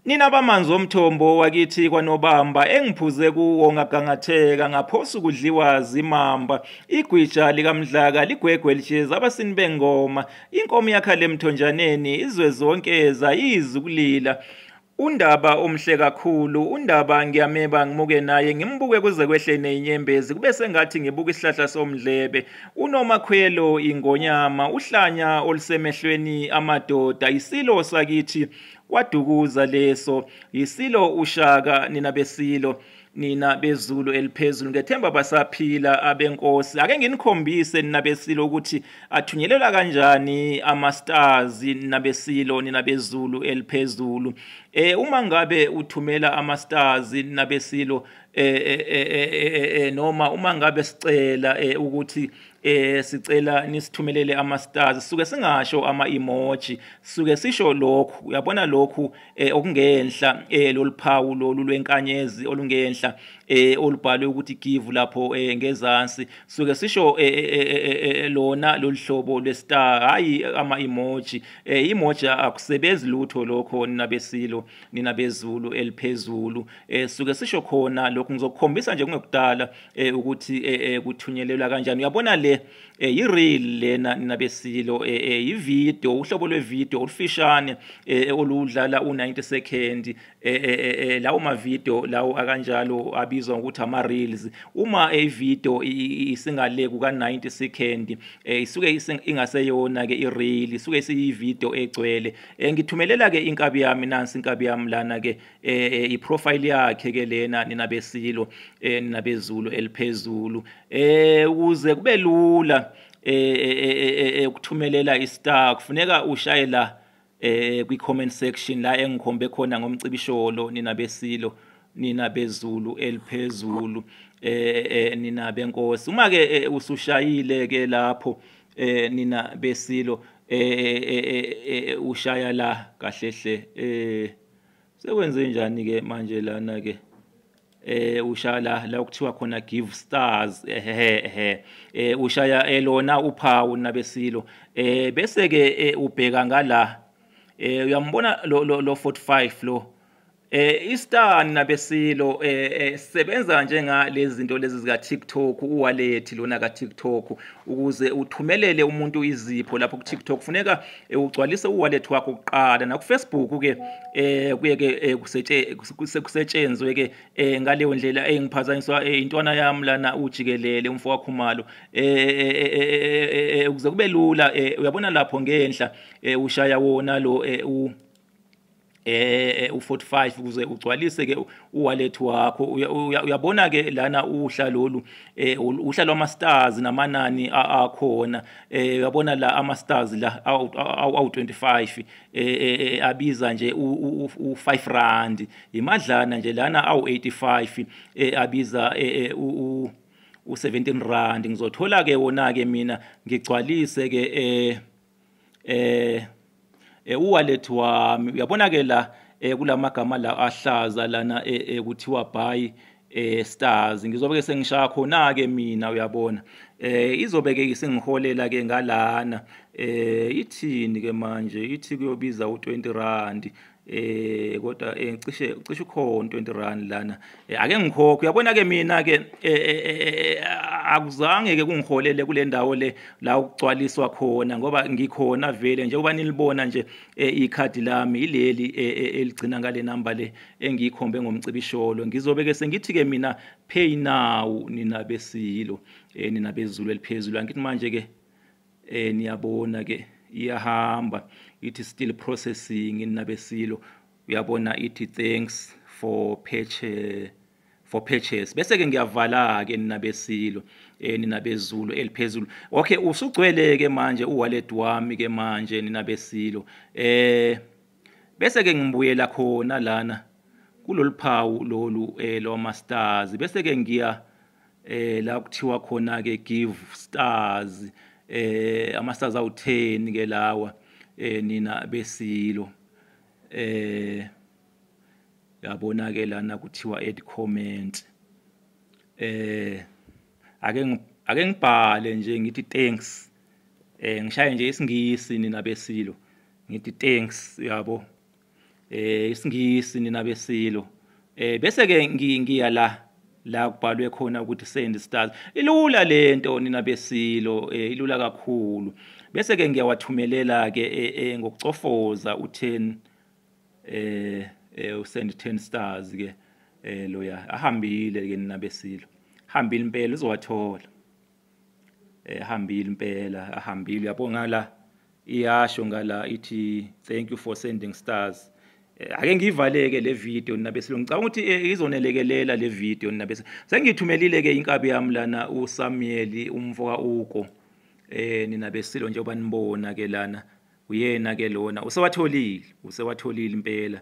Nina bamanzi omthombo wakithi kwanobamba engiphuze kuwo ngagangatheka ngaphosa ukudliwa zimamba igwija likamdlaka ligwegwe lisheza abasini bengoma inkomo yakha lemthonjaneni izwe zonke zayizi ukulila Undaba omhle kakhulu, undaba ngiyameba ngimuke naye ngimbuke kuze kwehlene inyembezi kube sengathi ngibuka isihlahla somdlebe. Unomakhwelo ingonyama uhlanya olusemehlweni amadoda isilo sakithi kwadukuza leso yisilo ushaka nina besilo nina bezulu eliphezulu ngethemba basaphila abenkosi ake nginikhombise nina besilo ukuthi athunyelelwa kanjani ama-stars nina besilo nina bezulu eliphezulu eh uma ngabe uthumela ama-stars nina besilo eh, eh, eh, eh noma uma ngabe sicela eh, ukuthi eh sicela nisithumelele ama stars suke singasho ama emoji suke sisho lokhu uyabona lokhu eh, okungenhla eh loliphawu lolu lwenkanyezi olungenhla eh olubhalwe ukuthi give lapho eh, ngezansi suke sisho eh, eh, eh, lona loluhlobo lwestar hayi ama emoji eh emoji akusebenzi lutho lokho nina besilo nina bezulu eliphezulu eh suke sisho khona lokhu ngizokukhombisa nje kungekudala eh ukuthi eh, eh kuthunyelelwa kanjani uyabona le eh ireel lena nabesilo eh, eh ivideo uhlobo lwevideo olufishane eh, eh oludlala u90 second eh, eh, eh lawo ma video lawo akanjalo abizwa ngokuthi ama reels uma e video isingale kuka 90 second eh isuke ingaseyona ke i reel isuke isiyi video egcwele eh ngithumelela ke inkabi yami nansi inkabi yami lana ke eh, eh iprofile yakhe ke lena nina besilo eh, nina bezulu eliphezulu eh ukuze kube lula eh, eh, eh ukuthumelela istar kufuneka ushaye la eh kwi comment section la engikhombe khona ngomcibisholo nina besilo nina bezulu eliphezulu eh, eh nina benkosi uma ke eh, usushayile ke lapho eh nina besilo eh, eh, eh, eh ushaya la kahle hle eh sekwenze njani ke manje lana ke eh ushala la kuthiwa khona give stars ehehe eh ushaya elona eh, uphawu nabesilo eh bese ke eh, ubheka ngala eh uyambona lo lo 45 lo eh istar nabesilo eh, eh sebenza njenga lezi zinto lezi zika TikTok uwallet lona ka TikTok ukuze uthumelele umuntu izipho lapho ku TikTok funeka e, ugcwalise uwallet wakho kuqala nakufacebook ke eh kuye ke e, kusetshenzwe ke ngaleyo ndlela engiphazanyiswa intwana yami lana ujikelele umfo wakhumalo eh ukuze kube lula uyabona lapho ngenhla ushaya wona lo u eh u45 ukuze ugcwalise ke uwallet wakho uyabona ke lana uhla lolu eh uhla lwama stars namanani akhona eh uyabona la ama stars la awu25 eh abiza nje u5 rand imadlana nje lana awu85 eh abiza u u17 rand ngizothola ke wona ke mina ngigcwalise ke eh eh eh uwallet wami uyabona ke la eh kulamagama la ahlaza lana eh, eh kuthiwa buy eh stars ngizobe ke sengishaya khona ke mina uyabona eh izobe ke isingiholela ke ngalana eh ithini ke manje ithi kuyobiza u20 rand eh kodwa eh, cishe cishe ukhona 20 rand lana eh, ake ngikhokhe uyabona ke mina ke eh, akuzange ke kungiholele kule ndawo le la ukugcwaliswa khona ngoba ngikhona vele njengoba nilibona nje ikhadi lami ileli eligcina ngale number le engikhombe ngomcibisholo ngizobe ke sengithi ke mina pay now nina besilo nina bezulu eliphezulu angithi manje ke eh niyabona ke iyahamba ithi still processing inabesilo uyabona ithi thanks for purchase for purchase bese ke ngiyavala ke nina besilo eh nina bezulu eliphezulu okay usugcwele ke manje uwallet wami ke manje nina besilo eh bese ke ngibuyela khona lana kuloluphawu lolu eh loma stars bese ke ngiya eh la kuthiwa khona ke give stars eh ama stars awu10 ke lawa eh nina besilo eh yabona ke lana kuthiwa add comment eh ake ake ngibhale nje ngithi thanks eh ngishaye nje isingisi nina besilo ngithi thanks yabo eh isingisi nina besilo eh bese ke ngiya la la kubhalwe khona ukuthi send stars ilula lento nina besilo eh, ilula kakhulu bese ke ngiyawathumelela ke eh, eh, ngokucofoza u10 eh usend 10 stars ke eh loya ahambile ke nina besilo hambile impela uzowathola ehambile impela ahambile uyabo ngala iyasho ngala ithi thank you for sending stars eh, ake ngiyivaleke le video nina besilungu ngicabanga ukuthi eh, izonelekelela le video nina bese sengithumelile ke inkabi yami lana uSamuel umfoka uko eh nina besilo njengoba nibona ke lana uyena ke lona usewatholile usewatholile impela